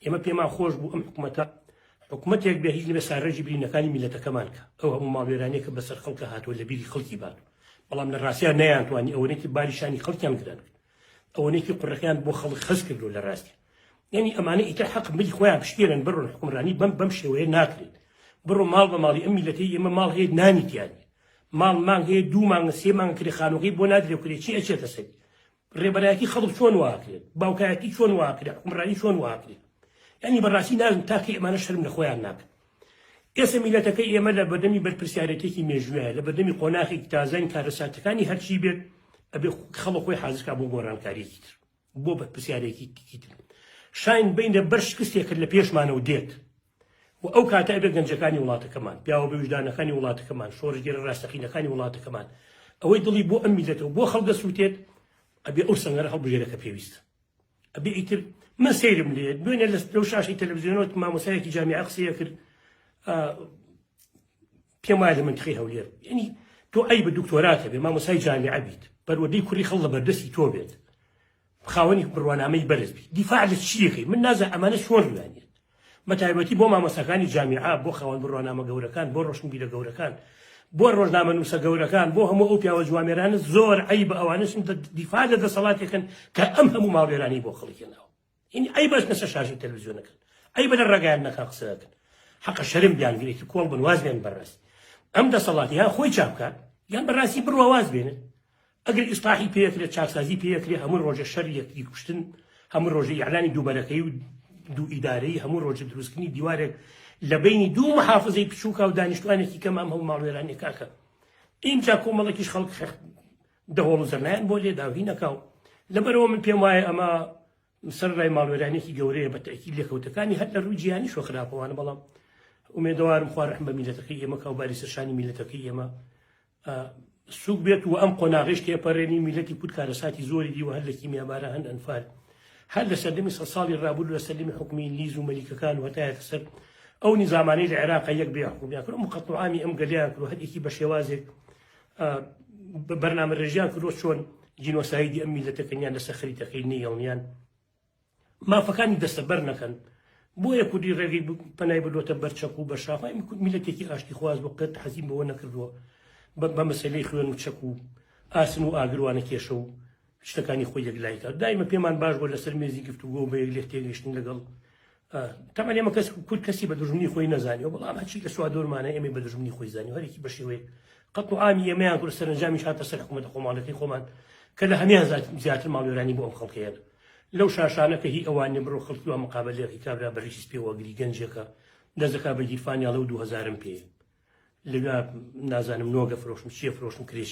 ئێمە پێمان خۆش بوو ئەم حکومەتە حکومەتێک بێ هیچ نبێ ساغێژی برینەکانی میلەتەکەمان کە ئەو هەموو ماڵوێرانەیە کە بەسەر خەڵکە هاتووە لە بیری خەڵکی بات بەڵام لە ڕاستیان نەیانتوانی ئەوەیەکی باری شانی خەڵکیان گران کرد ئەوەیەکی قڕەکەیان بۆ خەڵک خەز کردو لە ڕاستی یعنی ئەمانە ئیتر حەق ملی خۆیان پشتێرن بڕۆن حکومرانی بەم بەم شێوەیە ناکرێت بڕۆ ماڵ بە ماڵی ئەم میلەتی ئێمە ماڵ هەیە نانی تیانی ماڵ مانگ هەیە دوو مانگە سێ مانگ کرێخانەکەی بۆ نادرێ کرێ چی ئەچێتە سەری ڕێبەرایەتی خەڵک چۆن واکرێت باوکایەتی چۆن واکرێت حکومڕانی چۆن واکرێت ینی بەڕاستی نازم تاکە ئەمانە شەرم لە خۆیان ناکەن ئێستا میلەتەکەی ئێمە لە بەردەمی بەرپرسیارەتێکی مێژووە لە بەردەمی قۆناخێکی تازەین کارەساتەکانی هەرچی بێت ئەبێ خەڵە خۆی حازرکا بۆ گۆڕانکاریەکی تر بۆ بەرپرسیارێکی تر شاین بینە بەر شکستێکرد لە پێشمانەوە دێت و ئەو کاتە ئەبێ گەنجەکانی وڵاتەکەمان، پیاوە بەویژدانەکانی وڵاتەکەمان، شۆڕشگێرە ڕاستەقینەکانی وڵاتەکەمان، ئەوەی دڵی بۆ ئەم میللەتە و بۆ خەڵک دەسووتێت، ئەبێ ئەو سەنگەرە هەڵبژێرێ کە پێویستە. ئەبێ ئیتر من سەیرم لێ، دوێنێ لەو شاشەی تەلەفزیۆنەوە مامۆستایەکی جامیعە قسەی ئەکرد، پێم وایە لە مەنتقی هەولێر یعنی تۆ ئەی بە دکتۆرات هەبێ مامۆسای جامیعە بیت بەروەدەی کوری خەڵ لە بەردەستی تۆ بێت خاوەنی بڕوانامەی بەرز بیت دیفاع لە چیەکەی من نازە ئەمانە چۆن لوانێت مەتایبەتی بۆ مامۆساکانی جامیعە بۆ خاوەن بڕوانامە گەورەکان بۆ ڕۆشنبیرە گەورەکان بۆ ڕۆژنامە نووسە گەورەکان بۆ هەموو ئەو پیاوە جوامێرانە زۆر عیب ئەوانشن دیفاع لە دەسەڵاتێکن کە ئەم هەموو ماڵێرانی بۆ خەڵکێناوە ئینی ئەی بەس نەسە شاشی تەلویزیۆنەکەن ئەی بەدە ڕگایان نەکا قسەکەن حەقە شەرم بیانگرێتی کۆڵ بن واز بێن بەڕێز ئەم دەسەڵات یا خۆی چاپ بکات یان بەڕاستی بڕوا واز بێنن ئەگەر ئیسلاحی پێکرێت چاکسازی پێکرێ هەموو ڕۆژە شەر یەکتی کوشتن هەموو ڕۆژە یعلانی دووبەرەکەی و دوو ئیدارەی هەموو ڕۆژە دروستکردنی دیوارێک لە بینی دوو محافزەی بچووکە و دانیشتوانێکی کەم ئەم هەموو ماڵوێرانێکاکە ئینجا کۆمەڵێکیش خەڵک دەهۆڵ و زەنایان بۆ لێداوهی نەکاو لەبەرەوە من پێم وایە ئەمە سەر ڕای ماڵوێرانێکی گەورەیە بە تەکی لێکەوتەکانی هەر لە ڕووی جیانی شۆ خراپەوانە بەڵام ئومێدەوارم خوا ڕحم بە میلەتەکەی ئێمە کاوباری سەرشانی میلەتەکەی ئێمە سوک بێت و ئەم قۆناغش تێپەرێنی میلەتی کورد کارەساتی زۆری دیوە هەر لە کیمیابارە هەن ئەنفال هەر لە سەردەمی سە ساڵی ڕابوو لە سەردەمی حکومی لیز و مەلیکەکان وەتایەتە سەر ئەو نیزامانەی لە عێراقە یەک بێ حکومیان کرد مقەتڵامی ئەم گەلیان کرد هەرێکی بە شێوازێک بەرنامە رێژیان کردوە چۆن جینۆسایدی ئەم میلەتەکەنیان لەسەر خەریتەکەی نیڵنیان مافەکانی دەستەبەر نەکەن بۆیە کوردی ڕێگەی پەنای بردوتە بەرچەک و بەرشافای میلەتێکی ئاشتی خواز بۆ قەت حەزیم بەوە نەکردووە بە مەسلەی خوێن و چەک و ئاسن و ئاگروانە کێشە و شتەکانی خۆی یەکلایکە دایمە پێمان باش بۆ لەسەر مێزی گفتوگۆ بە یەک لێک تێگەشتن لەگەڵ تەمان ئێمە کەس کورد کەسی بە دژمنی خۆی نەزانانی و بەڵام هەچی لە سوادۆرمانە ئێمە بە دژمنی خۆی زانانی هەرێکی بە شێوەیە قەت و ئامی ئێمەیان کورد سەرنجامی شاتە سەر حکوومەت خۆماڵەکەی خۆمان کە لە هەمان زیاتر ماڵوێرانی بۆ ئەم خەڵکەیە لەو شاشانەکە هی ئەوان بڕۆ خەڵکی و مقابلێکی کابرا بەریسی پێوەگری گەنجەکە دەزەکە بە گیرفانیاڵە و دوهزارم پێ لە نازانم نۆگە فرۆشم چیە فرۆشم کرێش